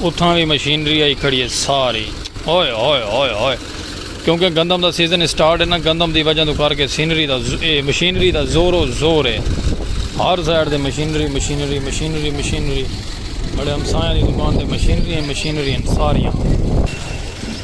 اتھاں وی مشینری آئی کھڑی ہے ساری ہوئے ہوئے ہوئے ہوئے کیونکہ گندم دا سیزن اسٹارٹ ہے نا گندم دی وجہ تو کر کے سینری دا اے مشینری دا زور و زور ہے ہر سائڈ دے مشینری مشینری مشینری مشینری بڑے ہمسایاں دی دکان تے مشینری ہیں مشینری ہیں ساریاں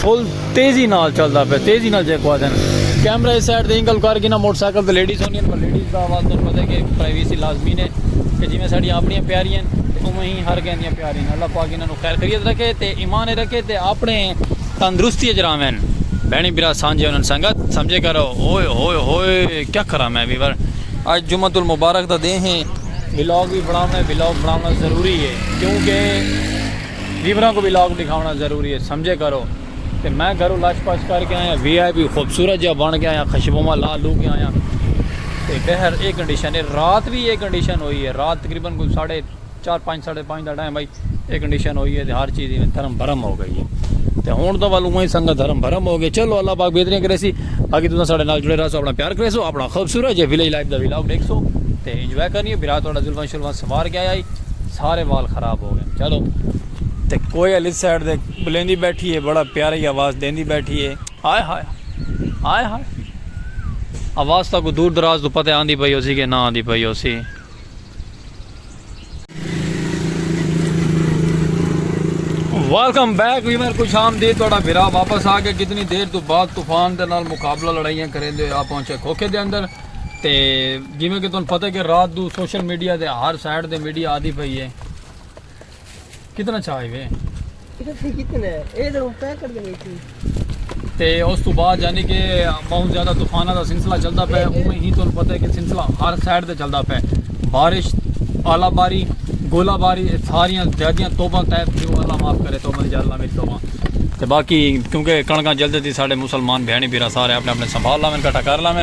فل تیزی نال چلدا پیا تیزی نال جے کو آدن کیمرہ اس سائیڈ دے اینگل کر گینا موٹر سائیکل تے لیڈیز ہونی ہیں لیڈیز دا آواز تن پتہ کہ پرائیویسی لازمی نے کہ جی میں ساڑی اپنی پیاری ہیں تے اوہ ہی ہر کہیں دیاں پیاری ہیں اللہ پاک انہاں نو خیر خیریت رکھے تے ایمان رکھے تے اپنے تندرستی اچ راوین بہنی برا سانجے انہاں سنگت سمجھے کرو اوئے ہوئے ہوئے کیا کرا میں بھی ور آج جمعہ المبارک دا دے ہیں ولاگ بھی بناونا ہے ولاگ بناونا ضروری ہے کیونکہ ڈیوراں کوں وی لاک ڈکھاونڑاں ضروری اے سمجھے کرو تے میں گھروں لش پش کر کے آیاں وی آئی پی خوبصورت جیہا بنڑ کے آیاں خشبواں لا لو کے آیاں تے بہر اے کنڈیشن اے رات وی اے کنڈیشن ہوئی اے رات تقریبا کوئی ساڑھے چار پنج ساڑھے پنج دا ٹائم ہئی اے کنڈیشن ہوئی اے تے ہر چیز ایویں دھرم بھرم ہو گئی اے تے ہن تاں ول اوویں سنگت دھرم بھرم ہو گئی چلو اللہ پاک بہتریاں کریسی باقی تساں ساڈے نال جڑے رہسو اپنا پیار کریسو اپنا خوبصورت جے ولیج لائف دا ولاگ ڈیکھسو تے انجوائے کرنی اے بھرا تہاڈا زلفاں شلفاں سنوار کے آیا ہئی سارے وال خراب ہو گئن چلو تے کوئے علی سائیڈ دے بلیندی بیٹھی ہے بڑا پیارا ہی آواز دیندی بیٹھی ہے۔ ہائے ہائے ہائے ہائے آواز تاں کو دور دراز توں پتے آندی پئی ہوسی کہ نہ آندی پئی ہوسی۔ ویلکم بیک ویور خوش آمدید تہاڈا بھرا واپس آ گیا کتنی دیر تو بعد طوفان دے نال مقابلہ لڑائیاں کریندے ہوئے آ پہنچے کھوکھے دے اندر۔ تے جیویں کہ تہن پتہ کہ رات دو سوشل میڈیا دے ہر سائیڈ دے میڈیا آدھی پئی ہے کتنا چھائی وے تے اس تو بعد یعنی کہ بہت زیادہ طوفانہ دا سلسلہ چلدا پے اوویں ہی تہن پتہ کہ سلسلہ ہر سائیڈ دے چلدا پے بارش آلا باری گولا باری ساریاں زیادیاں توبہ تیب تھی وہ اللہ معاف کرے توبہ جا اللہ میری توبہ تے باقی کیونکہ کڑکاں جلدی تھی سارے مسلمان بہنی بیرا سارے اپنے اپنے سنبھال لاویں کٹا کر لاویں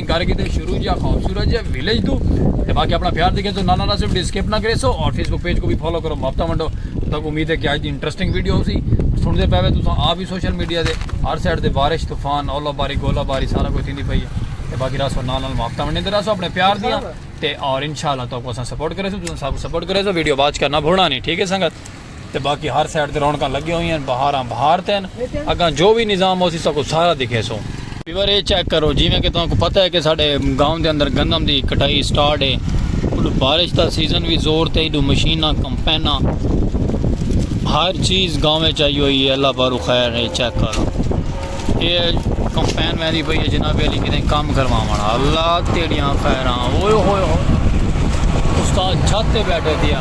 گھر کی تے شروع جا خوبصورت جا ویلیج تو تے باقی اپنا پیار دیکھے تو نانا ناصر ویڈیو سکپ نہ کرے سو اور فیس بک پیج کو بھی فالو کرو مفتا منڈو تک امید ہے کہ آج دی انٹرسٹنگ ویڈیو ہو سی سن دے پہوے تو آپ ہی سوشل میڈیا دے ہر سائڈ دے بارش طوفان اولا باری گولا باری سارا کوئی تھی دی پئی ہے تے باقی راسو نال نال مفتا منڈے دے راسو اپنے پیار دیاں تے اور انشاءاللہ تو کو سن سپورٹ کرے سو تو سن سب سپورٹ کرے سو ویڈیو باچ کرنا بھوڑا نہیں ٹھیک ہے سنگت تے باقی ہر سائیڈ تے رونقاں لگیاں ہوئیاں ہن بہاراں بہار تے ہن اگاں جو وی نظام ہوسی ساکوں سارا دکھیسوں۔ ویور اے چیک کرو جیویں کہ تہاکوں پتہ ہے کہ ساڈے گاؤں دے اندر گندم دی کٹائی سٹارٹ اے اڈوں بارش دا سیزن وی زور تے ایڈوں مشیناں کمپیناں ہر چیز گاؤں وچ آئی ہوئی اے اللہ پاروں خیر اے چیک کرو۔ یہ کمپین ویندی پئی ہے جناب علی کتنے کام کرواون اللہ تیڑیاں خیراں اوئے ہوئے ہوئے استاد چھت تے بیٹھے دیا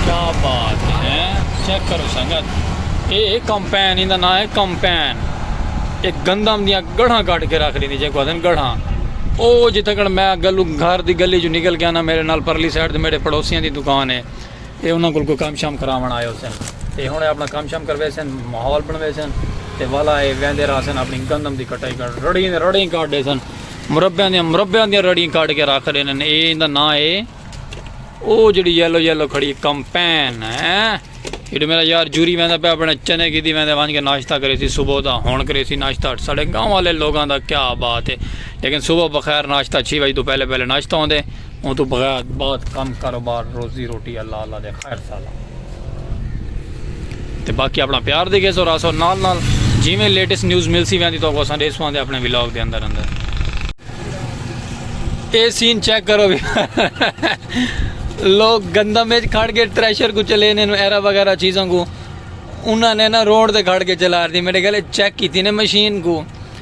کیا بات ہے چیک کرو سنگت اے اے کمپین ایندا نام ہے کمپین ایک گندم دیاں گڑھاں کٹ کے رکھ لیندی جے کو آدن گڑھاں او جتھے کڑ میں گلو گھر دی گلی جو نکل گیا نا میرے نال پرلی سائیڈ تے میرے پڑوسیاں دی دکان ہے اے انہاں کول کوئی کم شم کراوݨ آئے ہوسن تے ہݨ اے اپݨا کم شم کرویسن، ماحول بݨویسن تے ولا اے ویندے رہسن اپݨی گندم دی کٹائی کرݨ، رڑیں دیاں رڑیں کاٹ ݙیسن، مربیاں دیاں مربیاں دیاں رڑیں کاٹ کے رکھ ݙیندن، اے ایندا ناں اے او جیڑھی یلو یلو کھڑی اے کمپین ہیں جیڑھے میݙا یار جوری ویندا پیا اپݨے چنے گھدی ویندے ونج کے ناشتہ کریسی صبح دا ہݨ کریسی ناشتہ ساݙے گاؤں آلے لوگاں دا کیا بات اے لیکن صبح بخیر ناشتہ چھ وڄ توں پہلے پہلے ناشتہ ہوندے۔ اوں توں بغیر بہت کم کاروبار روزی روٹی اللہ اللہ دے خیر سالا تے باقی اپنا پیار دے گے سو راسو نال نال جی میں لیٹس نیوز مل سی ویندی تو کو سن ریسوان دے اپنے ولاگ دے اندر اندر اے سین چیک کرو بھی لوگ گندم میں کھڑ کے تریشر کو چلے نے ایرا وغیرہ چیزوں کو انہوں نے نا روڈ دے کھڑ کے چلا رہی میرے گلے چیک کی تھی نے مشین کو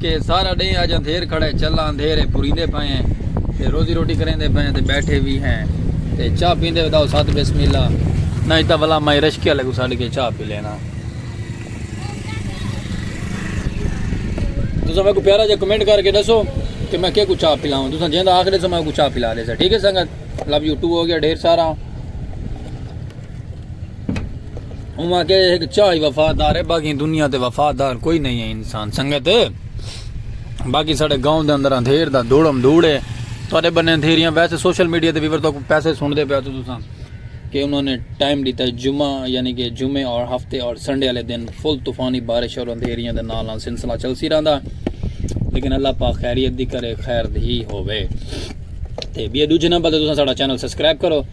کہ سارا ڈینہہ اج اندھیر کھڑا ہے چلا اندھیر ہے پوریندے پئے ہیں تے روزی روٹی کریندے پئے ہیں تے بیٹھے وی ہیں تے چاہ پیندے وداؤ ساتھ بسم اللہ نہ ہی تاں بلا مائی رشکے والے کو ساڈ کے چاہ پی لینا تساں میں کو پیارا جا کمنٹ کر کے دسو کہ میں کے کو چاہ پلاؤں تساں جیندا آخر سے میں کو چاہ پلا دے سا ٹھیک ہے سنگت لو یو ٹو ہو گیا ڈھیر سارا اوما کہ ایک چاہی وفادار ہے باقی دنیا تے وفادار کوئی نہیں ہے انسان سنگت باقی سارے گاؤں دے اندر اندھیر دا دوڑم دوڑے تھوڑے بنے اندھیریاں ویسے سوشل میڈیا تے ویور تو پیسے سن دے پیا تو تساں کہ انہوں نے ٹائم دیتا ہے جمعہ یعنی کہ جمعے اور ہفتے اور سنڈے والے دن فل طوفانی بارش اور اندھیریاں دے نال نال سلسلہ چل سی رہندا لیکن اللہ پاک خیریت دی کرے خیر دی ہوے تے بیا دوجے نمبر تے تساں ساڈا چینل سبسکرائب کرو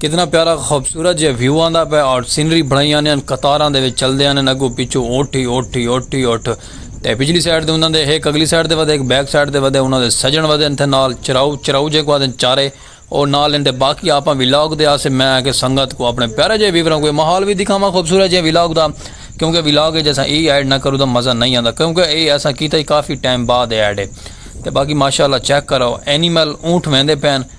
کتنا پیارا خوبصورت جے ویو آندا پے اور سینری بنائی آنے ان قطاراں دے وچ چلدے آنے اگو پچھو اٹھ ہی اٹھ ہی اٹھ ہی اٹھ تے پچھلی سائیڈ دے انہاں دے ہک اگلی سائیڈ دے ودے ہک بیک سائیڈ دے ودے انہاں دے سجن ودے انتھے نال چراؤ چراؤ جے کو آدن چارے اور نال اندے باقی آپاں وی لاگ دے آسے میں آکے سنگت کو اپنے پیارے جے ویوراں کو ماحول وی دکھاواں خوبصورت جے وی لاگ دا کیونکہ وی لاگ اے جیسا ای ایڈ نہ کرو دا مزہ نہیں آندا کیونکہ اے ایسا کیتا ہی کافی ٹائم بعد ایڈ اے تے باقی ماشاءاللہ چیک کرو اینیمل اونٹ ویندے پین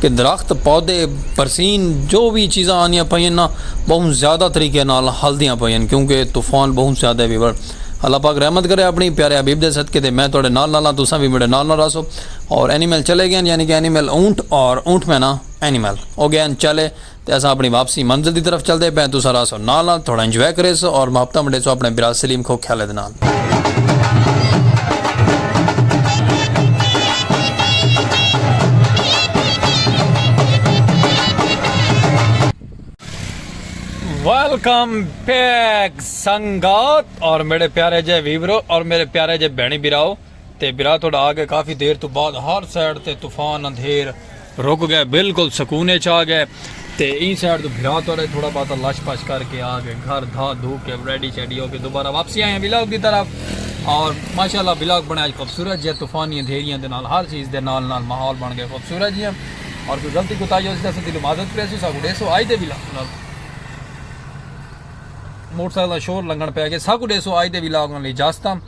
کہ درخت، پودے، برسین جو وی چیزاں آندیاں پئین نا بہوں زیادہ طریقے نال ہلدیاں پئین کیونکہ طوفان بہوں زیادہ وی بر۔ اللہ پاک رحمت کرے اپنی پیارے حبیب دے صدقے تے میں تہاڈے نال نال ہاں تساں وی میڈے نال نال رہسو اور اینیمل چلے گئین یعنی کہ اینیمل اونٹ اور اونٹ میں نا اینیمل او گئین چلے۔ تے اساں اپݨی واپسی منزل دی طرف چلدے پئے ہیں تساں راہسو نال نال تھوڑا انجوائے کریسو اور محبتاں ونڈیسو اپݨے برا سلیم کھوکھیالے دے نال۔ ویلکم بیک سنگت اور میݙے پیارے جئے ویورو اور میݙے پیارے جئے بھیݨیں بھراؤ۔ تے برا تہاڈا آ گئے کافی دیر توں بعد ہر سائیڈ تے طوفان اندھیر رک گئے بالکل سکون اچ آ گئے تے ایں سائیڈ توں بھرا تہاڈا ہی تھوڑا باتا لش پش کر کے آ گئے گھر دھا دھو کے ریڈی شیڈی ہو کے دوبارہ واپسی آئے ہیں ولاگ دی طرف اور ماشاءاللہ ولاگ بنایا اج خوبصورت جیہاں طوفانی اندھیریاں دے نال ہر چیز دے نال نال ماحول بن گئے خوبصورت جیہاں اور کوئی غلطی کوتاہی ہو سکتا دل معذرت پیسو سا کو ڈیسو آج دے ولاگ نال موٹر سائیکل شور لنگن پہ گئے سا کو ڈیسو آج دے ولاگ نال اجازت